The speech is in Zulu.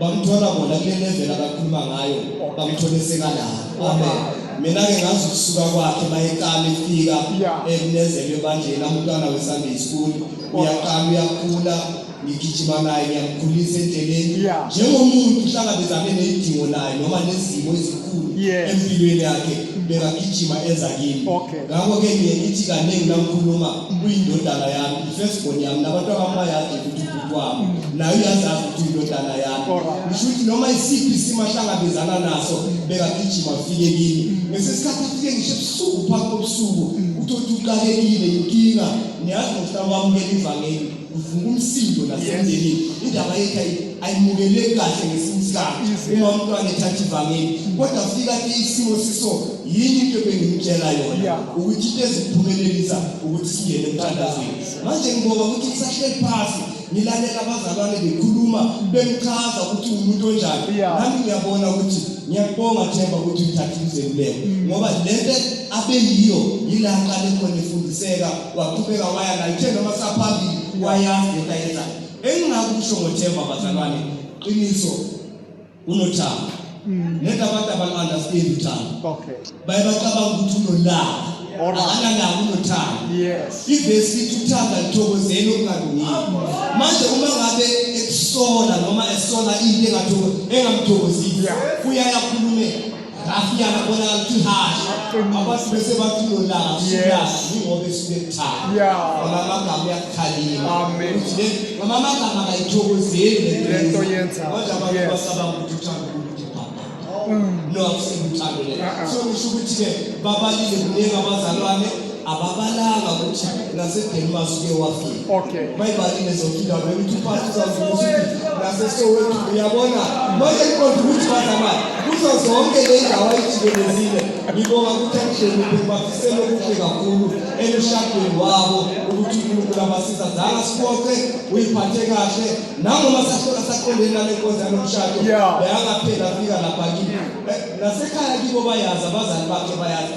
bamthola bona kule level abakhuluma ngayo bamthole sekalala amen mina ke ngazi ukusuka kwakhe mayeqala ifika ekunezelwe ebandleni amntwana wesunday school uyaqala uyakhula ngigijima naye ngiyamkhulisa endleleni njengomuntu uhlangabezane nezidingo naye noma nezimo ezikhulu empilweni yakhe bekagijima eza kimi ngakho-ke ngiye ngithi kaningi namkhuluma kuyindodana yami i-first born yami nabantu abamayazi ukuthi kwabo nayo iyazazi ukuthi indodana yakho ngisho ukuthi noma isiphi isimo ahlangabezana naso bekagijima afike kimi ngesinye isikhathi afike ngisho ebusuku phambi kobusuku uthi uthi uqalekile inkinga niyazi ngokuthi awamukela ivangeli uvuka umsindo nasemndenini indaba yethu ayimukeleki kahle ngesinye isikhathi uma umntwana ethatha ivangeli kodwa afika ke isimo siso yini into ebengimtshela yona ukuthi into eziphumelelisa ukuthi singene emthandazweni manje ngibonga ukuthi ngisahleli phasi ngilalela abazalwane bekhuluma bengichaza ukuthi umuntu onjani nami ngiyabona ukuthi ngiyakubonga themba ukuthi uthathe izeluleko mm. ngoba lento abeyiyo yila qale khona efundiseka waqhubeka waya la ithe noma saphambili wayazi lento ayenzayo engingakusho ngothemba bazalwane qiniso unothando mm. ngeke abantu abanga-understand uthando okay baye bacabanga ukuthi unolaka akanalaka unothando ivesi ithi uthanda lithokozeni okungalungile manje uma ngabe ekusola noma esola into engamthokozile uyayakhulumela Ngafika ngabona kuthihashi abantu bese bathilo la siyasi ngoba esuke ekuthanda. Yeah. Ngoba amagama uyakukhalima. Amen. Uthi le ngoba amagama akayithokozeli lento yenza. Kodwa abantu basaba ukuthi uthanda ukuthi baba. No akusibuthando le. So ngisho ukuthi ke babalile kuningi abazalwane ababalanga ukuthi nasedelmas uye wafika okay bayibalile zonke indawo bekuthi uphathi uzawuzukuthi nasesowetu uyabona manje kuqonda ukuthi bazamali kuzo zonke le ndawo ayijikelezile ngibonga ukuthi akuhleliphe bafisele okuhle kakhulu emshadweni wabo ukuthi unkulunkulu abasiza zanga siboxe uyiphathe kahle nangoma sahlola saqondeni nale nkonzo yanomshado beyangaphela afika lapha kibo eh, nasekhaya kibo bayazi abazali bakhe bayazi